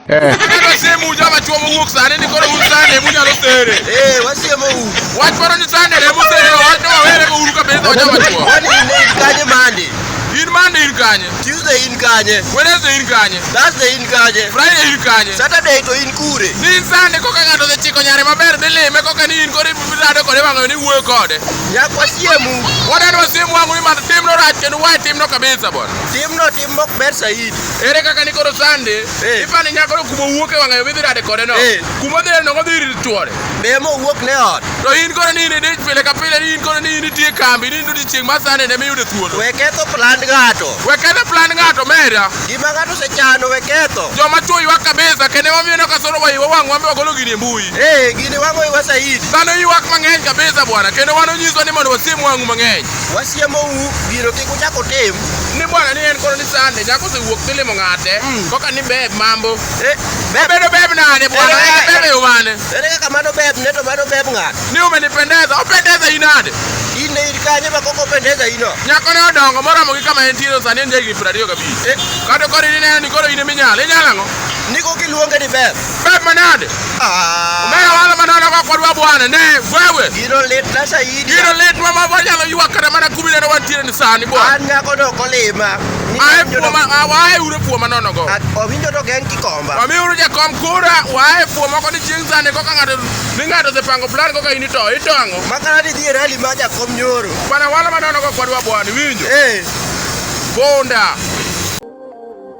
Eh. In Monday in Kanye. Tuesday in Kanye. Wednesday in Kanye. Thursday in Kanye. Friday in Kanye. Saturday to in Kure. Ni Sunday koka ng'ato dhi chiko nyare maber dhi lime koka ni in kore rado kode wang'ayo ni wuoyo kode. Nyakwa siemu. Wadadwa siemu wangu ni mar timno rach kendo wae timno kabisa bwana. Timno tim mok ber saidi. Ere kaka ni koro sande Eh. ipani nyako no kuma owuok e wang'ayo midhi rade kode no Eh. kuma odhi rade no odhi ir chwore Be mo wuok ne ot. to in koro ni in e dich pile ka pile ni in koro ni in itie e kambi ni in to odiechieng' ma sande ne miyude thuolo We ketho plan ng'ato. we ketho plan ng'ato mera Gima ng'ato osechano we ketho. joma chwo ywak kabisa kendo emomiyo ineno ka soro wa iwa wang' wambe wagolo gini e mbui Eh, gini wang'o iwa saidi. dhano ywak mang'eny kabisa bwana kendo wan onyiswa ni mondo wasim wang'u mang'eny wasiemou gino kik uchak utim ni bwana ni en koro ni sande nyako osewuok dhi limo ng'ate Mm. koka ni beb mambo Eh, beb- bedo beb nade bwana Eh, eh, bebe umane ere kaka mano beb ne to mano beb ng'ato ni umenipendeza opendeza inade in ne in kanye ma koko pendeza ino nyako ne odongo moromo gi kama entiere sani en jahigni piero ariyo gabich Eh. kata koro in ineno ni koro in iminyalo inyalo ang'o niko kiluonge ni beb Manade. Ah. Mera wala manana kwa kwa dwa bwana ne wewe. You don't let na shahidi. You don't let mama bwana lo yuwa kana mana kumi na wantire ni sani bwana. Anya ko do kolema. Ai kwa ma awai ure kwa manono go. Owinjo to gen kikomba. Mami uru ja kom kura wae kwa mako ni jinza ne kwa kangado ninga do se pango plan kwa ini to ito ango. Makana di di rali maja kom nyoro. Bwana wala manana kwa kwa dwa bwana winjo. Eh. Bonda.